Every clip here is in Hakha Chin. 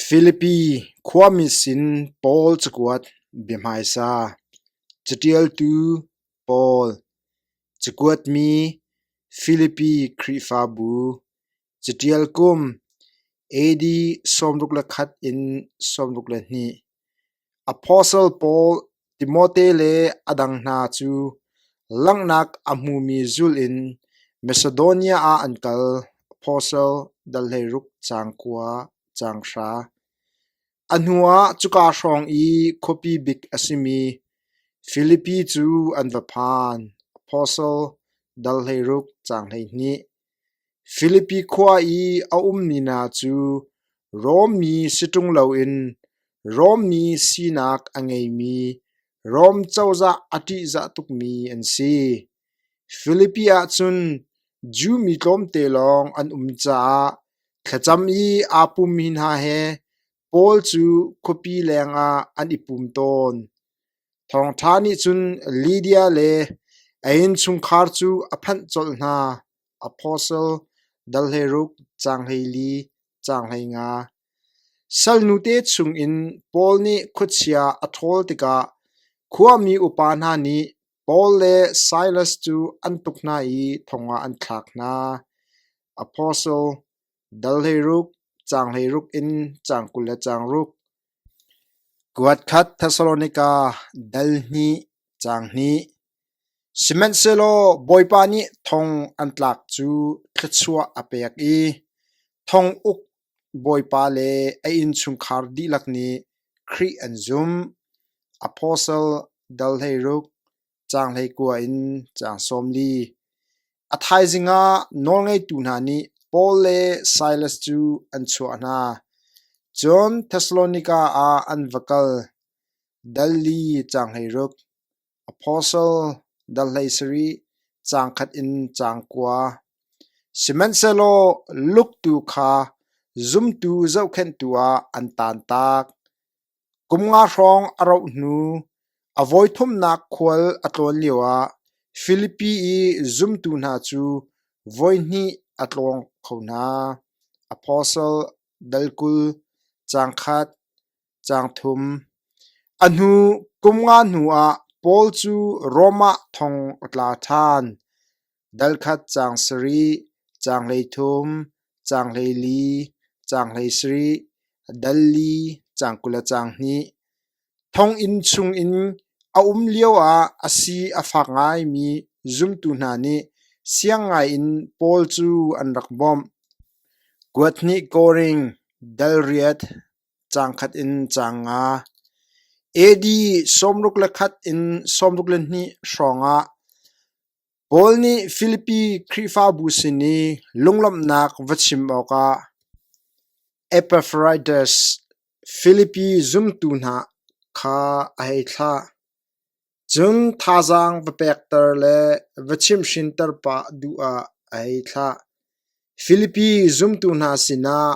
Filipi khuami sin Paul cakuat bia hmaisa, caṭialtu Paul, cakuat mi Filipi Khrihfabu, caṭial kum AD sawmruk le khat in sawmruk le hnih. Apostle pawl Timote le a dang hna cu langhnak a hmumi zulh in Masedonia ah an kal. Apostle dal hleiruk caang kua caang hra. A hnuah cuka hrawng i khuapi bik a simi Filipi cu an va phan. Apostle dal hleiruk caang hleihnih. Filipi khua i a ummi hna cu Rom mi si ṭung loin Rom mi sinak a ngeimi, Rom cozah a ṭihzah tukmi an si. Filipi ah cun Jew mi tlawmte lawng an um caah thlacam i aa pummi hna he Paul cu khuapi lengah an i pum tawn. Thawngṭha nih cun Lydia le a innchungkhar cu a phanh colh hna. Apostle dal hleiruk, caang hleili, caang hleinga. Salnute chungin Paul nih khuachia a ṭhawl tikah khuami upa hna nih Paul le Silas cu an tuk hna i thongah an thlak hna. Apostle Dal hleiruk, caang hleiruk in caang kul le caang ruk. Kuat khat Thessalonika dal hnih caang hnih. Sihmanhsehlaw Bawipa nih thong an tlak cu thluachuah a pek i thong uk Bawipa le a innchungkhar dihlak nih Khrih an zumh. Apostle dal hleiruk, Caang hleikua in caang sawm li. A thaizing ah nawlngeitu hna nih Paul le Silas cu an chuah hna. Cun Thessalonika ah an va kal. Dal li caang hleiruk. Apostle dal hlei sarih caang khat in caang kua. Sihmanhsehlaw luktu kha zumtu zohkhenhtu ah an tantak. Kum nga hrawng a roh hnu a vawithumnak khual a tlawn lioah Filipi i zumtu hna cu voihnih a tlawng kho hna: apostle, dal kul, caang khat, caang thum. A hnu kum nga hnuah Paul cu Rom ah thong a tla ṭhan. Dal khat caang sarih, caang hleithum, caang hleili, caang hleisarih, dal li, caang kul le caang hnih. Thonginn chungin a um lioah a si a fak ngaimi zumtu hna nih siang ngaiin Paul cu an rak bawmh. Kuat hnih koring, dal riat, caang khat in caang nga. AD sawmruk le khat in sawmruk le hnih hrawngah Paul nih Filipi Khrihfabu sin i lunglawmhnak va chim awkah Epafras Filipi zumtu hna kha a hei thlah. Cun thazaang va pekter le va chimhrinter pah duh ah a hei thlah. Filipi zumtu hna sinah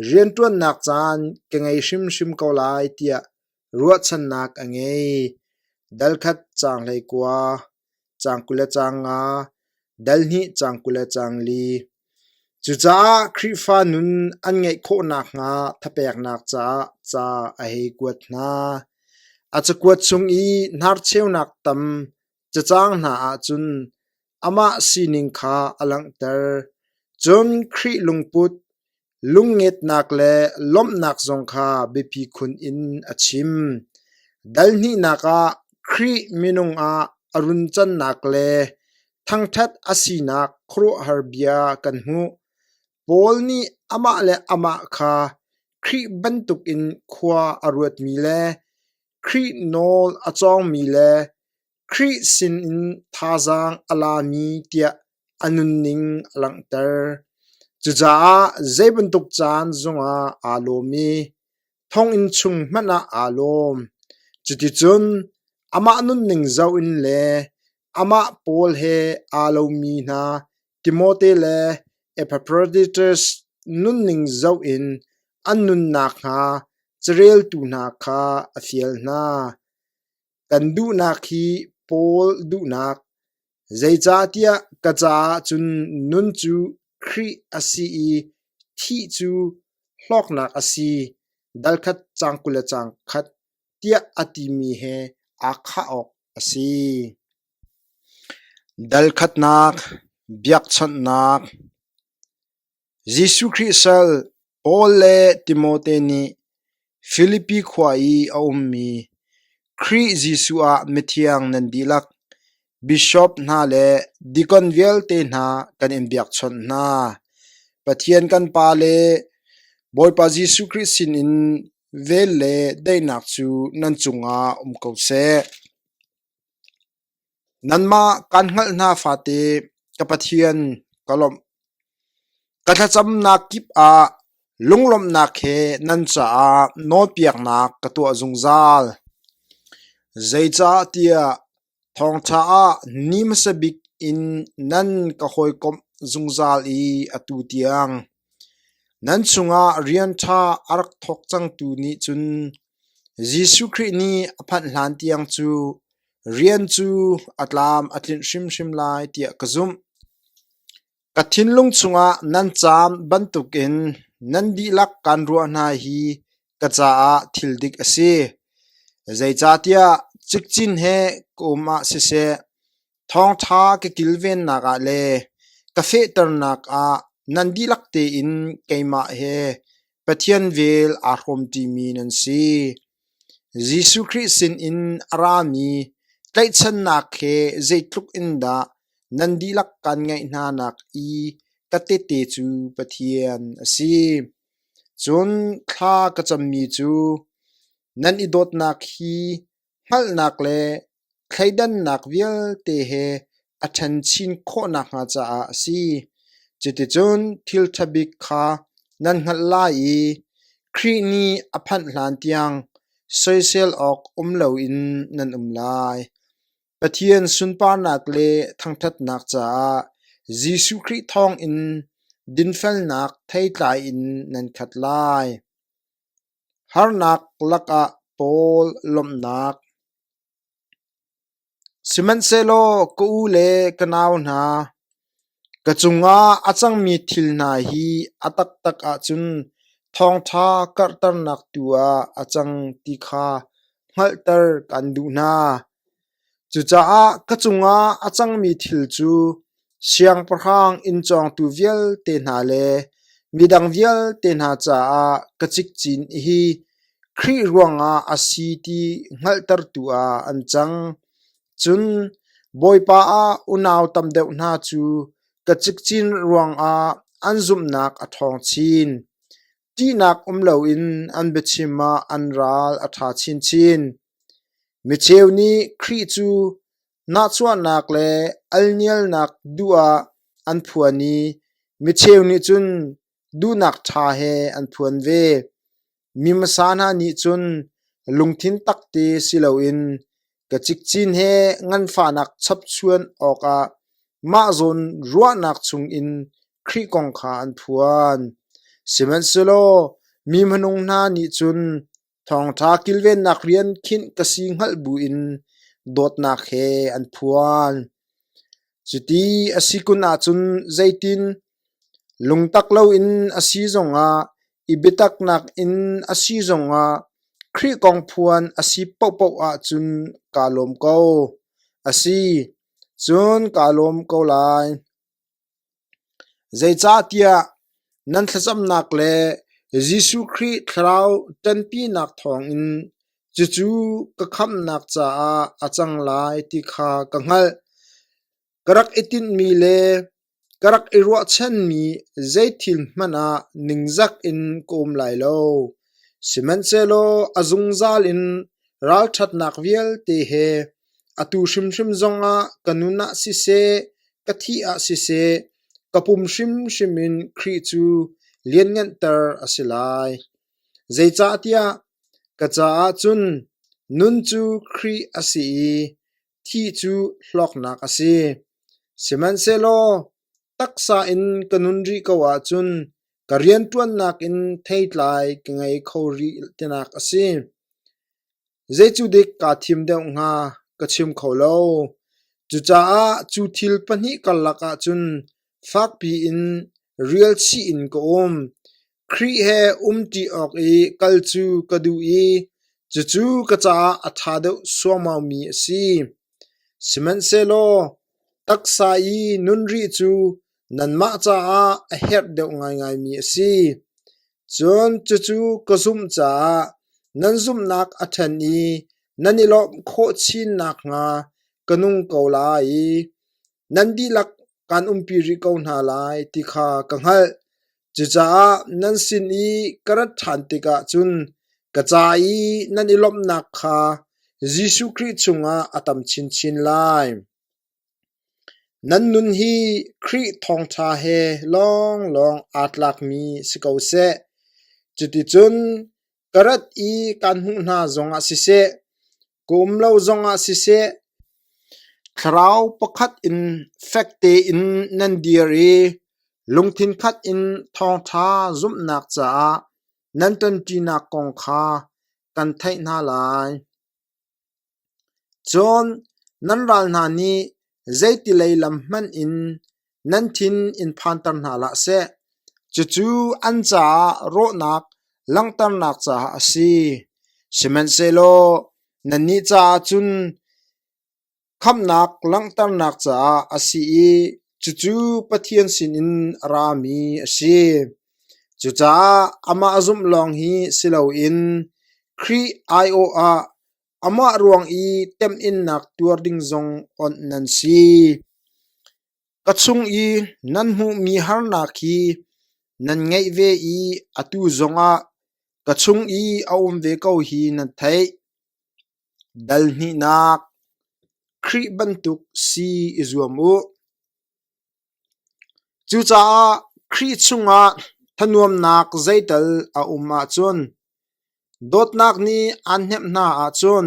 rianṭuannak caan ka ngei hrimhrim ko lai tiah Ruahchannak a ngei: Dalkhat caang hleikua, caang kul le caang nga, dal hnih caang kul le caang li. Cucaah Khrihfa nun an ngeih khawh nakhnga thapeknak caah ca a hei kuat hna. A cakuat chung i hnarcheunak tam, cacaang hna ahcun amah sining kha a langhter, cun Khrih lungput, lungngetnak le lawmhnak zong kha biapi khun in a chim. Dal hnihnak ah Khrih minung ah a runcannak le thangṭhat a sinak khuaruahhar bia kan hmuh. Paul nih amah le amah kha Khrih bantukin khua a ruatmi le Khrih nawl a cawngmi le Khrih sinin thazaang a lami tiah a nunning a langhter. Cucaah zei bantuk caan zongah aa lawm i thonginn chung hmanh ah aa lawm. Cuticun amah nunning zoh in le amah pawl he aa lomi hna Timote le Epaphroditus nunning zoh in an nun nakhnga careltu hna kha a fial hna. Kan duhnak hi Paul duhnak, zeicahtiah ka caah cun nun cu Khrih a si i thih cu hlawknak a si, dalkhat cang kul le cang khat, tiah a timi he aa khah awk a si. Dalkhatnak, biakchawnhnak, Jesuh Khrih sal Paul le Timote nih Filipi khua i a ummi Khrih Jesuh ah mithiang nan dihlak bishop hna le deacon vialte hna kan in biakchawnh hna. Pathian kan Pa le Bawipa Jesuh Khrih sinin vel le daihnak cu nan cungah um ko seh. Nanmah kan hngalh hna fate, ka Pathian, ka lawmh. Ka thlacamnak kip ah lunglawmhnak he nan caah nawlpiaknak ka tuah zungzal. Zeicahtiah thawngṭha ah ni hmasa bik in nan ka hawikomh zungzal i atu tiang nan chungah rian ṭha a rak thawk cangtu nih cun Jesuh Khrih nih a phanh hlan tiang cu rian cu a tlam a tlinh hrimhrim lai tiah ka zumh. Ka thinlung chungah nan caam bantukin nan dihlak kan ruah hna hi ka caah thil dik a si. Zeicahtiah cikcin he ka um ah siseh, Thawngṭha ka kilvennak ah le ka fehternak ah nan dihlak tein keimah he Pathian vel aa hrawmṭimi nan si. Jesuh Khrih sinin a rami tlaihchannak he zeitluk in dah nan dihlak kan ngeih hnanak i ka tehte cu Pathian a si. Cun thla ka cammi cu nan i dawtnak hi hngalhnak le thleidannak vialte he a ṭhen chin khawh nakhnga caah a si. Cuticun thil ṭha bik kha nan hngalh lai i Khrih nih a phanh hlantiang soisel awk um loin nan um lai. Pathian sunparnak le thangṭhatnak caah Jesuh Khrih thawngin dinfelnak theitlai in nan khat lai. Harnak lakah Paul lawmhnak. Sihmanhsehlaw ka u le ka nau hna, ka cungah a cangmi thil hna hi a taktak ahcun thawngṭha karhternak tu ah a cang ti kha hngalhter kan duh hna. Cucaah ka cungah a cangmi thil cu siangpahrang inn cawngtu vialte hna le midang vialte hna caah ka cikcin hi Khrih ruangah a si ti hngalhtertu ah an cang. Cun Bawipa ah unau tam deuh hna cu ka cikcin ruangah an zumhnak a ṭhawng chin. Ṭihnak um loin an biachim ah an ral a ṭha chinchin. Micheu nih Khrih cu nahchuahnak le alnialnak duh ah an phuan i micheu nih cun duhnak ṭha he an phuan ve. Mi hmasa hna nih cun lungthin tak te si loin Ka cikcin he nganfahnak chapchuan awkah mah zawn ruahnak chungin Khrih kong kha an phuan. Sihmanhsehlaw mi hmanung hna nih cun thawngṭha kilvennak rian khinh ka si hngalh buin dawtnak he an phuan. Cuti a si kun ahcun zeitin? Lungtak loin a si zongah, i biataknak in a si zongah Khrih kong phuan a si paohpaoh ahcun kaa lawm ko. A si, cun kaa lawm ko lai. Zeicahtiah nan thlacamnak le Jesuh Khrih Thlarau ṭanpinak thawngin cucu ka khamhnak caah a cang lai ti kha ka hngalh. Ka rak i tinhmi le ka rak i ruahchanmi zeithil hmanh ah ningzak in ka um lai lo. Sihmanhsehlaw a zungzal in ralṭhatnak vialte he atu hrimhrim zong ah ka nun ah siseh, ka thih ah siseh, ka pum hrimhrim in Khrih cu liannganter a si lai. Zeicahtiah ka caah cun nun cu Khrih a si i Thi cu hlawknak a si, sihmanhsehlaw taksa in ka nun rih ko ahcun ka rianṭuannak in theitlai ka ngei kho rih tinak a si. Zeicudik kaa thim deuh hnga ka chim kho lo. Cucaah cu thil pahnih karlak ah cun Fakpi in rial chih in ka um. Khrih he umṭi awk i kal cu ka duh i cucu ka caah a ṭha deuh suaumaumi a si. Sihmanhsehlaw taksa i nunrih cu nanmah caah a herh deuh ngaingaimi a si. Cun cucu ka zumh caah nan zumhnak a ṭhen i nan i lawmh khawh chin nakhnga ka nung ko lai. Nan dihlak kan umpi rih ko hna lai ti kha ka hngalh. Cucaah nan sin i ka rat ṭhan tikah cun ka ca i nan i lawmhnak kha Jesuh Khrih chungah a tam chinchin lai. Nan nun hi Khrih thawngṭha he lawnglawng aa tlakmi si ko seh. Cuticun Ka rat i kaan hmuh hna zongah siseh, ka um lo zongah siseh, thlarau pakhat in fek tein nan dir i lungthin khat in thawngṭha zumhnak caah nan ṭonṭinak kong kha kan theih hna lai. Cun nan ral hna nih zeitilei lam hmanh in nan thin in phanter hna hlah seh, cucu an caah rawhnak langhternak caah a si; sihmanhsehlaw nannih caah cun Khamhnak langhternak caah a si i cucu Pathian sinin a rami a si. Cucaah amah a zumh lawng hi si loin Khrih aiawh ah amah ruang i temhinnak tuar ding zong awnh nan si. Ka chung i nan hmuhmi harnak hi nan ngeih ve i atu zongah ka chung i a um ve ko hi nan theih. Dal hnihnak Khrih bantuk si i zuam u. Cucaah Khrih chungah thanuamnak zeital a um ahcun, dawtnak nih aan hnemh hna ahcun,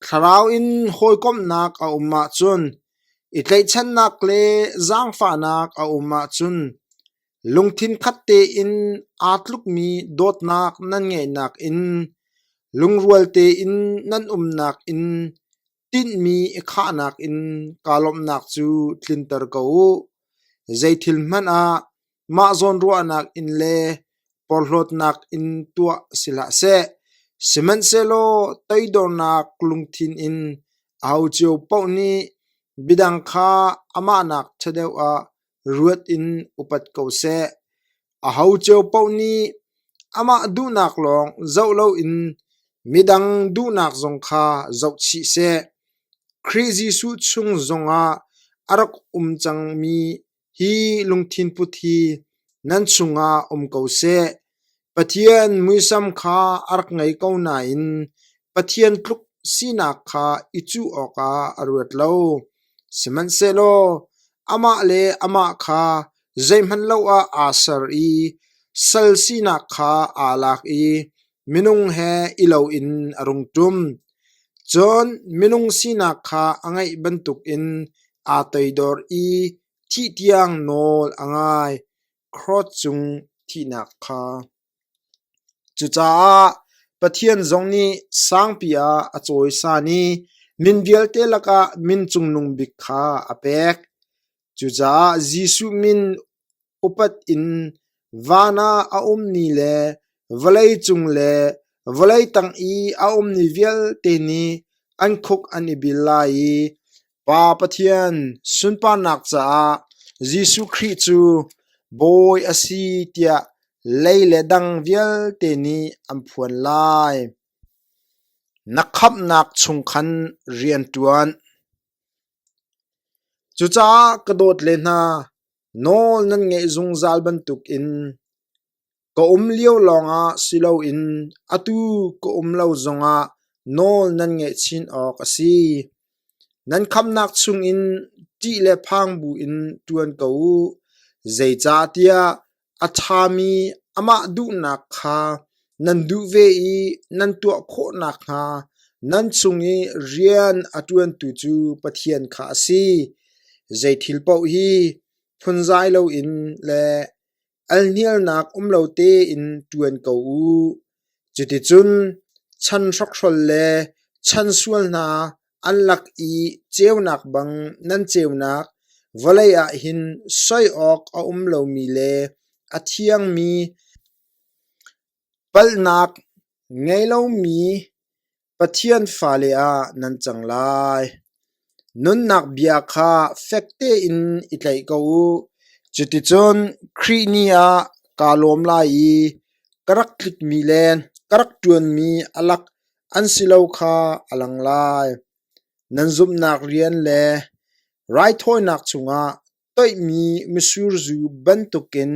thlarau in hawikomhnak a um ahcun, i tlaihchannak le zaangfahnak a um ahcun, Lungthin khat tein aa tlukmi dawtnak nan ngeihnak in, lungrual tein nan umnak in, tinhmi i khahnak in kaa lawmhnak cu tlinter ko u. Zeithil hmanh ah mah zawnruahnak in le porhlawtnak in tuah si hlah seh, sihmanhsehlaw toidornak lungthin in aho cio paoh nih midang kha amahnak ṭha deuh ah Ruat in upat ko seh. Aho cio paoh nih amah duhnak lawng zoh loin midang duhnak zong kha zoh chih seh. Khrih Jesuh chung zongah a rak um cangmi hi lungthin put hi nan chungah um ko seh. Pathian muisam kha a rak ngei ko nain Pathian tluk sinak kha i cuh awkah a ruat lo. Sihmanhsehlaw amah le amah kha zeihmanh lo ah aa ser i sal sinak kha aa lak i minung he i loin a rung ṭum. Cun minung sinak kha a ngeih bantukin aa toidor i thih tiang nawl a ngai. Krod cung thihnak kha Cucaah Pathian zong nih sangpi ah a cawisan i min vialte lakah min cungnung bik kha a pek. Cucaah Jesuh min upat in van ah a ummi le vawlei cung le vawlei tang i a ummi vialte nih an khuk an i bil lai i Pa Pathian sunparnak caah Jesuh Khrih cu Bawi a si tiah lei le dang vialte nih an phuan lai. Na khamhnak chung khan rian ṭuan. Cucaah ka dawt le hna, nawl nan ngeih zungzal bantukin Ka um lio lawngah si loin atu ka um lo zongah nawl nan ngeih chin awk a si. Nan khamnak chungin ṭih le phang buin ṭuan ko u, zeicahtiah a ṭhami amah duhnak kha nan duh ve i nan tuah khawh nakhnga nan chung i rian a ṭuantu cu Pathian kha a si. Zeithil paoh hi phunzai loin le alhnialnak um lo tein ṭuan ko u. Cuticun chan hrokhrol le chan sual hna an lak i ceunak bang nan ceunak vawlei ah hin soi awk a um lomi le a thiangmi Palhnak ngei lomi Pathian fale ah nan cang lai. Nunnak bia kha fek tein i tlaih ko u. Cuticun Khrih ni ah kaa lawm lai i ka rak tlutmi le ka rak ṭuanmi a lak an si lo kha a lang lai. Nan zumhnak rian le raithawinak chungah Toihmi misur zu bantukin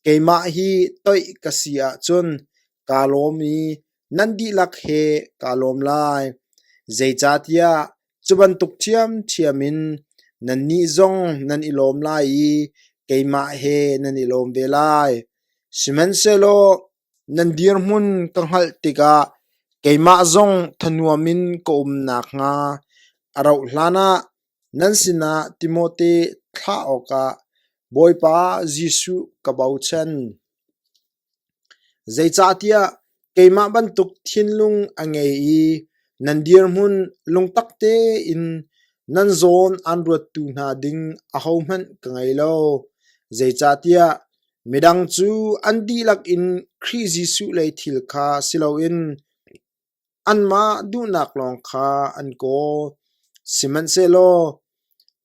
keimah hi toih ka si ahcun kaa lawm i nan dihlak he kaa lawm lai. Zeicahtiah cu bantuk ṭhiamṭhiam in nannih zong nan i lawm lai i keimah he nan i lawm ve lai. Sihmanhsehlaw nan dirhmun ka hngalh tikah keimah zong thanuam in ka um nakhnga a rauh hlanah Nan sinah Timote thlah awkah Bawipa Jesuh ka bochan. Zeicahtiah keimah bantuk thinlung a ngei i nan dirhmun lungtak tein nan zawn aan ruattu hna ding ahohmanh ka ngei lo, zeicahtiah midang cu an dihlak in Khrih Jesuh lei thil kha si loin Anmah duhnak lawng kha an kawl, sihmanhsehlaw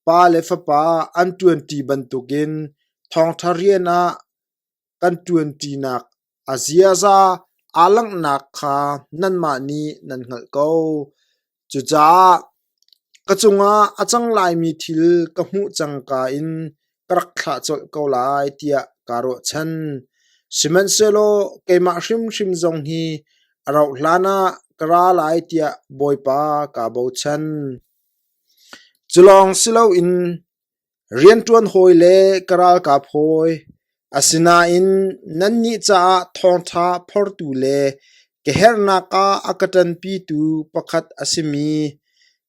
pa le fapa an ṭuanṭi bantukin thawngṭha rian ah kan ṭuanṭinak a ziaza aa langhnak kha nanmah nih nan hngalh ko. Cucaah Ka cungah a cang laimi thil ka hmuh cangka in ka rak thlah colh ko lai tiah kaa ruahchan. Sihmanhsehlaw keimah hrimhrim zong hi a rauh hlanah ka ra lai tiah Bawipa kaa bochan. Cu lawng si loin Rianṭuan hawi le ka ralkap hawi, asinain nannih caah thawngṭha phortu le ka herhnak ah a ka ṭanpitu pakhat a simi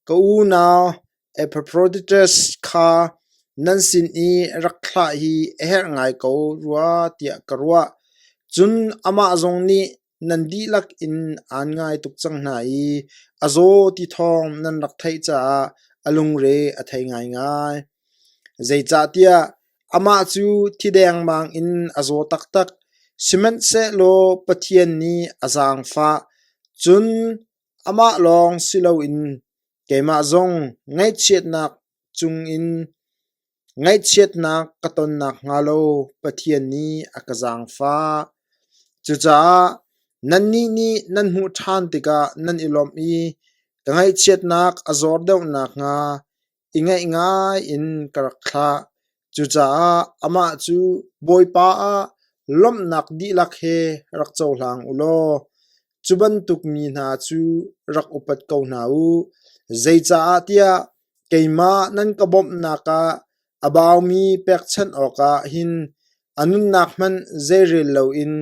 ka unau Epafroditas kha nan sin i rak thlah hi a herh ngai ko rua tiah ka ruah. Cun amah zong nih, Nan dihlak in aan ngai tuk cang hna i a zaw ti thawng nan rak theih caah a lungre a thei ngaingai. Zeicahtiah amah cu thi dengmang in a zaw taktak, sihmanhsehlaw Pathian nih a zaangfah, cun amah lawng si loin keimah zong ngaihchiatnak cungin Ngaihchiatnak ka ton nakhnga lo Pathian nih a ka zaangfah. Cucaah nannih nih nan hmuh ṭhan tikah nan i lawmh i ka ngaihchiatnak a zawr deuh nakhnga i ngaih ngai in ka rak thlah. Cucaah amah cu Bawipa ah lawmhnak dihlak he rak cohlang u law cu bantuk mi hna cu rak upat ko hna u, zeicaahtiah Keimah nan ka bawmhnak ah a baumi pekchanh awkah hin a nunnak hmanh zeirel loin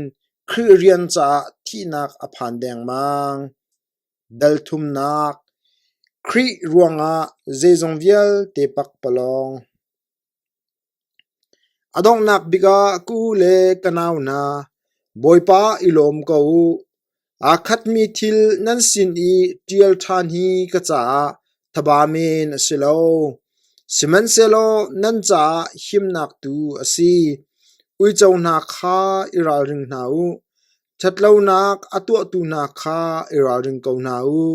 Khrih rian caah thihnak a phan dengmang. Dalthumnak Khrih ruangah zeizong vialte pak palawng. A donghnak bik ah ka u le ka nau hna, Bawipa i lawm ko u. Aa khatmi thil nan sin i ṭial ṭhan hi ka caah thaba men a si lo. Sihmanhsehlaw nan caah himnak tu a si. Uico hna kha i ralring hna u. Ṭhatlonak a tuahtu hna kha i ralring ko hna u;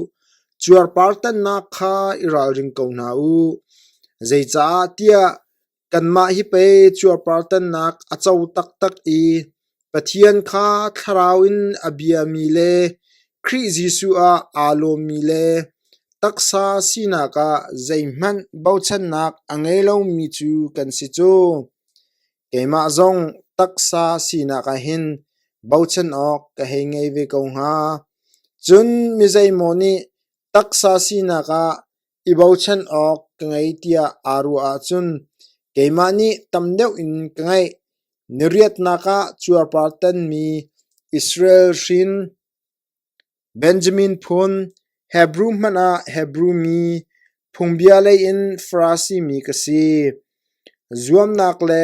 cuarpartannak kha i ralring ko hna u. Zeicah tiah kanmah hi pei cuarpartannak a co taktak i Pathian kha thlarau in a biami le Khrih Jesuh ah aa lawmmi le taksa sinak ah zeihmanh bochannak a ngei lomi cu kan si cu. Keimah zong taksa sinak ahhin bochan awk ka hei ngei ve ko hnga. Cun mizeimaw nih taksa sinak ah i bochan awk ka ngei tiah aa ruah ahcun keimah nih tam deuh in ka ngaih. Na riatnak ah cuarpar tanmi Israel hrin. Benjamin phun, Hebru hmanh ah Hebru mi, phungbia lei in Farasi mi ka si, zuamnak le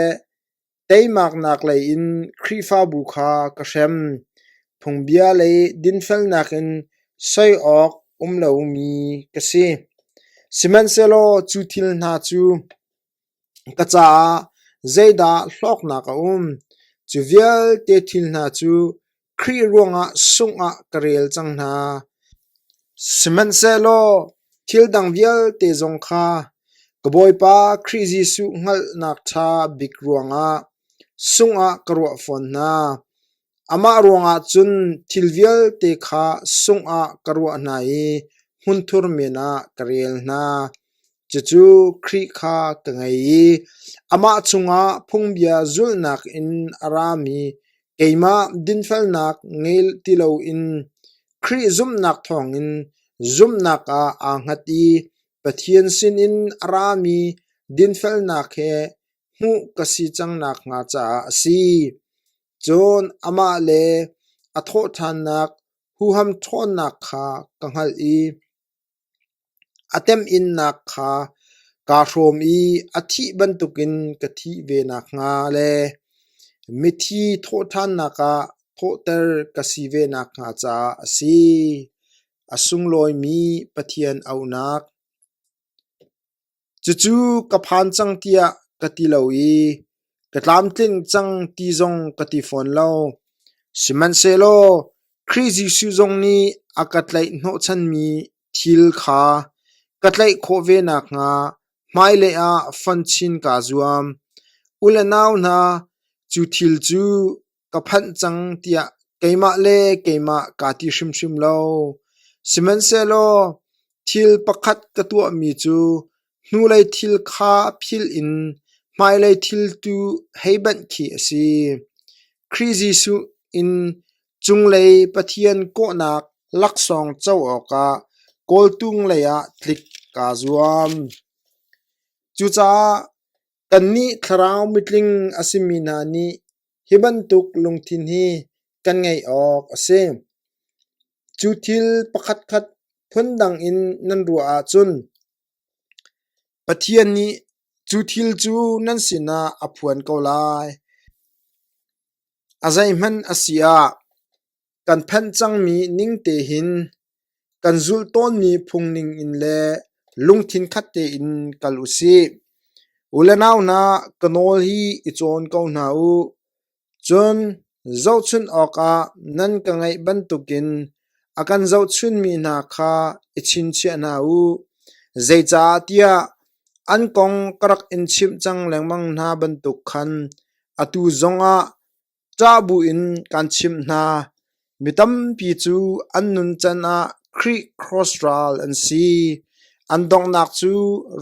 teimaknak lei in Khrihfabu kha ka hrem, phungbia lei dinfelnak in soi awk um lomi ka si; sihmanhsehlaw cu thil hna cu Ka caah zeidah hlawknak a um? Cu vialte thil hna cu Khrih ruangah sungh ah ka rel cang hna. Sihmanhsehlaw thil dang vialte zong kha ka Bawipa Khrih Jesuh hngalhnak ṭha bik ruangah sungh ah ka ruah fawn hna. Amah ruangah cun thil vialte kha sungh ah ka ruah hna i hmunthur men ah ka rel hna. Cucu Khrih kha ka ngei i amah cungah phungbia zulhnak in a rami keimah dinfelnak ngei ti loin Khrih zumhnak thawngin zumhnak ah aa hngat i Pathian sinin a rami dinfelnak he hmuh ka si cang nakhnga caah a si. Cun amah le a thawhṭhannak huham ṭhawnnak kha ka hngalh i a temhinnak kha kaa hrawm i a thih bantukin ka thih ve nakhnga le mithi thawhṭhannak ah thawhter ka si ve nakhnga caah a si, a sunglawimi Pathian aunak. Cucu ka phan cang tiah ka ti lo i ka tlamtling cang ti zong ka ti fawn lo. Sihmanhsehlaw Khrih Jesuh zong nih a ka tlaih hnawhchanmi thil kha ka tlaih khawh ve nakhnga hmailei ah fonh chin kaa zuam. U le nau hna, cu thil cu ka phanh cang tiah keimah le keimah kaa ti hrimhrim lo. Sihmanhsehlaw thil pakhat ka tuahmi cu hnulei thil kha philh in hmailei thil tu hei banh khi a si. Khrih Jesuh in cunglei Pathian kawhnak laksawng co awkah kawltung leiah tlik kaa zuam. Cucaah Kannih thlarau mitling a simi hna nih hi bantuk lungthin hi kan ngeih awk a si. Cu thil pakhatkhat phundang in nan ruah ahcun Pathian nih cu thil cu nan sinah a phuan ko lai. A zeihmanh a si ah kan phanh cangmi ning tein kan zulh tawnmi phungning in le lungthin khat tein kal u sih. U le nau hna, ka nawl hi i cawn ko hna u. Cun zohchunh awkah nan ka ngaih bantukin a kan zohchunmi hna kha i chinchiah hna u. Zeicah tiah an kong ka rak in chimh cang lengmang hna bantuk khan atu zongah ṭah buin kan chimh hna, mi tampi cu an nuncan ah Khrih Kraws ral an si, an donghnak cu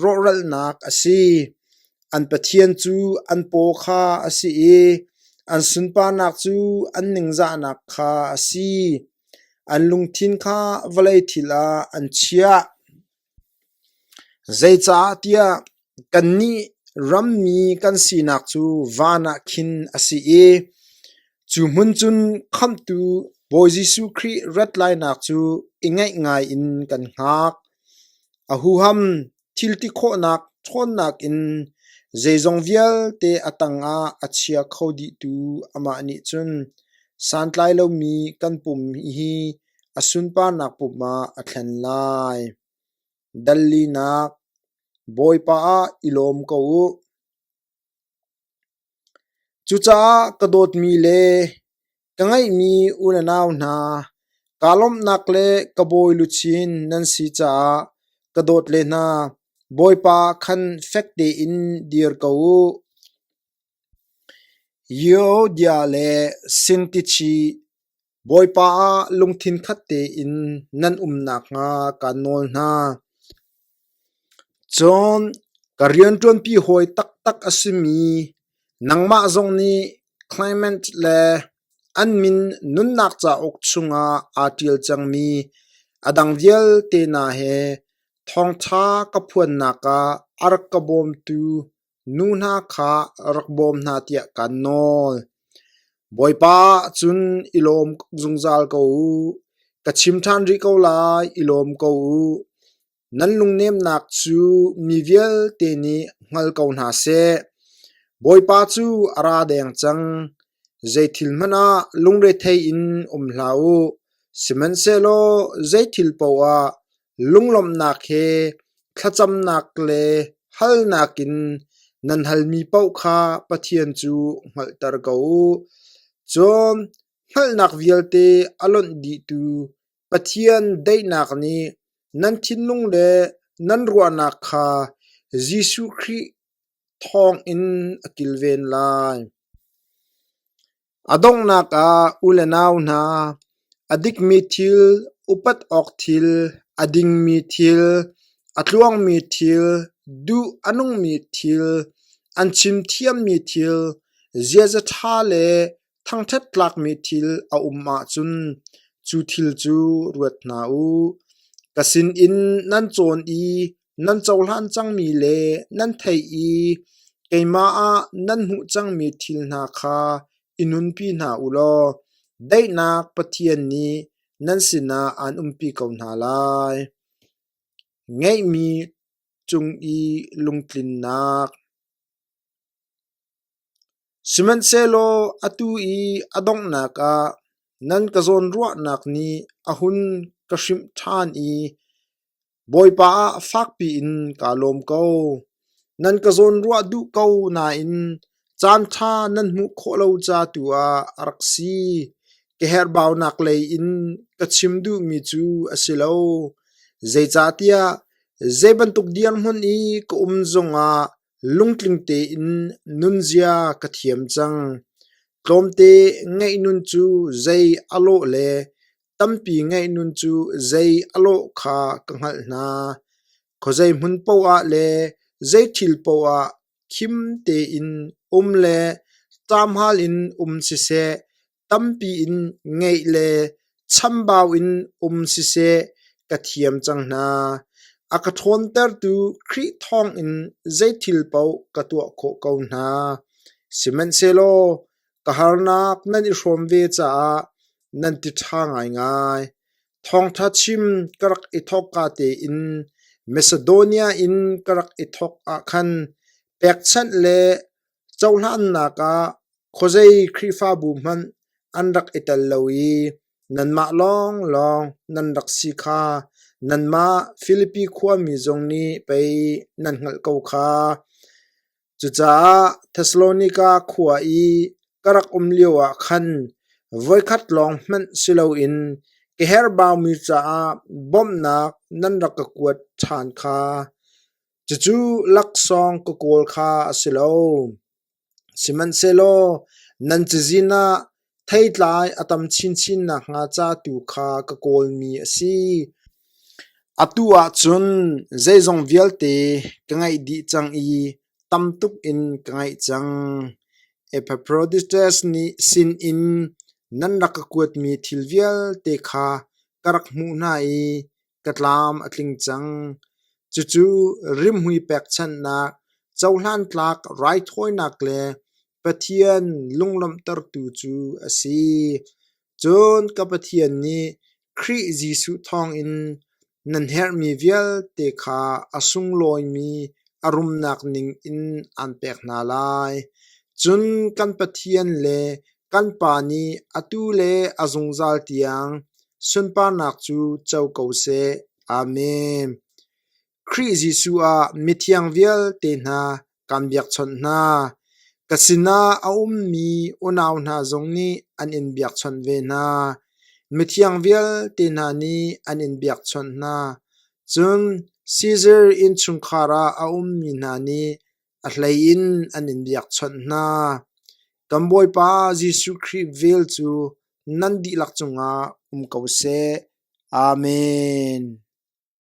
rawhralnak a si. An Pathian cu an paw kha a si i an sunparnak cu an ningzahnak kha a si. An lungthin kha vawlei thil ah an chiah. Zeicahtiah kannih rammi kan sinak cu van ah khin a si i cu hmun cun Khamhtu Bawi Jesuh Khrih rat lainak cu i ngaih ngai in kan hngak. A huham thiltikhawhnak ṭhawnnak in zeizong vialte a tangah a chia kho dihtu amah nih cun santlai lomi kan pum hi A sunparnak pum ah a thlen lai. Dallinak, Bawipa ah i lawm ko u. Cucaah ka dawtmi le ka ngeihmi unanau hna, kaa lawmhnak le ka bawi luchin nan si caah ka dawt le hna, Bawipa khan fek tein dir ko u. Yeodia le Sintichi, Bawipa ah lungthin khat tein nan um nakhnga kaan nawl hna. Cun ka rianṭuanpi hawi taktak a simi nangmah zong nih Clement le an min nunnak cauk chungah aa ṭial cangmi a dang vialte hna he thawngṭha ka phuannak ah a rak ka bawmtu Nu hna kha rak bawm hna tiah kaan nawl. Bawipa ahcun i lawm zungzal ko u. Ka chim ṭhan rih ko lai, i lawm ko u. Nan lungnemnak cu mi vialte nih hngal ko hna seh. Bawipa cu a ra deng cang. Zeithil hmanh ah lungrethei in um hlah u, sihmanhsehlaw zeithil paoh ah Lunglawmhnak he thlacamnak le halnak in nan halmi paoh kha Pathian cu hngalhter ko u. Cun hngalhnak vialte a lonh dihtu Pathian daihnak nih nan thinlung le nan ruahnak kha Jesuh Khrih thawngin a kilven lai. A donghnak ah u le nau hna, a dikmi thil, upat awk thil, a dingmi thil, a tluangmi thil, duh a nungmi thil, an chim thiammi thil, ziaza ṭha le thangṭhat tlakmi thil a um ahcun cu thil cu ruat hna u. Ka sinin nan cawn i nan cohlan cangmi le nan theih i keimah ah nan hmuh cangmi thil hna kha i nunpi hna u law daihnak Pathian nih nan sinah aan umpi ko hna lai. Ngeihmi cung i lungtlinnak Sihmanhsehlaw atu i a donghnak ah nan ka zawnruahnak nih a hun ka hrimh ṭhan i Bawipa ah fakpi in kaa lawm ko. Nan ka zawnruah duh ko nain caanṭha nan hmuh khawh lo ca tu ah a rak si. Ka herhbaunak lei in ka chim duhmi cu a si lo. Zeicahtiah zei bantuk dirhmun i ka um zongah lungtling tein nunzia ka thiam cang. Tlawmte ngaih nun cu zei a lawh le Tampi ngeihnun cu zei a lawh kha ka hngalh hna. Khuazei hmun paoh ah le zei thil paoh ah khim tein um le ṭamhal in um siseh, tampi in ngeih le chambau in um siseh ka thiam cang hna. A ka ṭhawntertu Khrih thawngin zei thil paoh ka tuah khawh ko hna. Sihmanhsehlaw Ka harnak nan i hrawm ve caah nan ti ṭha ngaingai. Thawngṭha chim ka rak i thawkka tein Macedonia in ka rak i thawk ah khan pekchanh le cohlannak ah khuazei Khrihfabu hmanh an rak i tel lo i nanmah lawnglawng nan rak si kha nanmah Filipi khuami zong nih pei nan hngalh ko kha. Cucaah Thessalonika khua i ka rak um lioah khan voikhat lawng hmanh si loin ka herhbaumi caah bawmhnak nan rak ka kuat ṭhan kha, cucu laksawng ka kawl kha a si lo. Sihmanhsehlaw nan cazin ah Theitlai a tam chinchin nakhnga ca tu kha ka kawlmi a si. Atu ahcun zeizong vialte ka ngaih dih cang i tam tuk in ka ngaih cang. Epaphroditus nih sinin nan rak ka kuatmi thil vialte kha ka rak hmuh hna i ka tlam a tling cang. Cucu rimhmui pekchanhnak, cohlan tlak raithawinak le Pathian lunglawmhtertu cu a si. Cun ka Pathian nih Khrih Jesuh thawngin nan herhmi vialte kha a sunglawimi a rumnak ning in aan pek hna lai. Cun kan Pathian le Kan pa nih atu le a zungzal tiang sunparnak cu co ko seh. Amen. Khrih Jesuh ah mithiang vialte hna kan biakchawnh hna. Ka sinah a ummi unau hna zong nih an in biakchawnh ve hna. Mithiang vialte hna nih an in biakchawnh hna. Cun Sizar innchungkhar ah a ummi hna nih A hlei in an in biakchawnh hna, Kan Bawipa Jesuh Khrih vel cu nan dihlak cungah um ko seh. Amen.